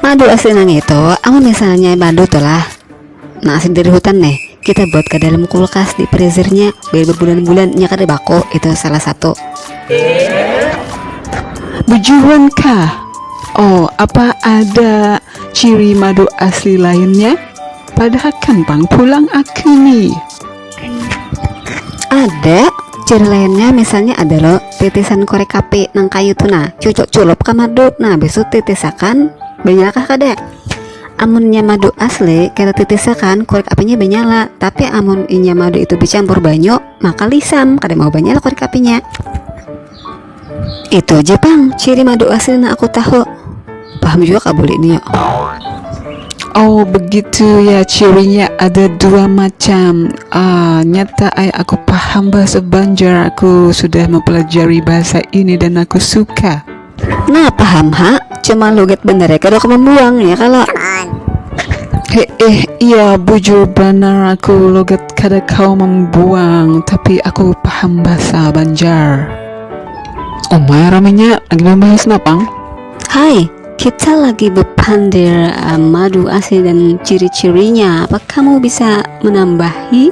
madu asli nang itu amun misalnya madu tuh lah nah asli dari hutan nih kita buat ke dalam kulkas di freezernya biar berbulan-bulan nya kada baku itu salah satu Bejuan kah? Oh, apa ada ciri madu asli lainnya? Padahakan pang pulang aku nih. ada ciri lainnya misalnya ada lo titisan korek api nang kayu tuh nah cucuk culup ke madu nah besok titisakan benyalakah kada amunnya madu asli kita titisakan korek apinya benyala tapi amun inya madu itu dicampur banyu maka lisam kada mau banyala korek apinya Itu aja pang ciri madu asli nang aku tahu. Paham jua kah bulik nio? Oh begitu ya cirinya ada dua macam. Ah, nyata ai aku paham bahasa Banjar, aku sudah mempelajari bahasa ini dan aku suka. Nah paham ha, cuma logat bandarnya kada aku membuang ya kalo. Heeh, iya bujur banar aku logat Kada kawa mambuang, tapi aku paham basa banjar. Umai raminya, lagi bambahas napang? Hai, kita lagi bepandir uh, madu asli dan ciri-cirinya. Apa kamu bisa menambahi?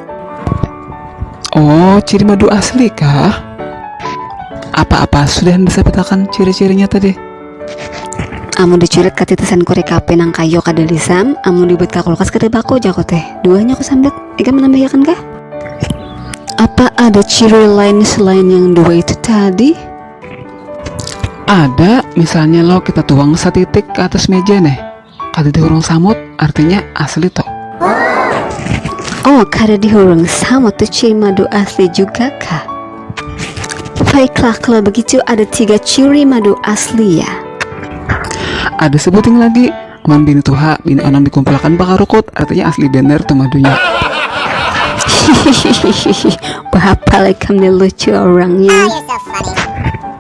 Oh, ciri madu asli kah? Apa-apa, sudah bisa petakan ciri-cirinya tadi? Amun dicurit ka titisan kuri kape nang kayo kada lisam, amun dibuat ka kulkas kada baku ja ko teh. Duanya ku sambat, ikam manambahiakan kah? Apa ada ciri lain selain yang dua itu tadi? Ada, misalnya lo kita tuang satitik ka atas meja neh. Kada dihurung samut artinya asli to. Oh kada dihurung samut tu ciri madu asli juga kah? Baiklah kalau begitu ada tiga ciri madu asli ya. Ada sebuting lagi Wan bini tuha, bini onang dikumpulkan bakarukut artinya asli bener tu madunya. Hihihihi, berapa lagi kami lucu orangnya.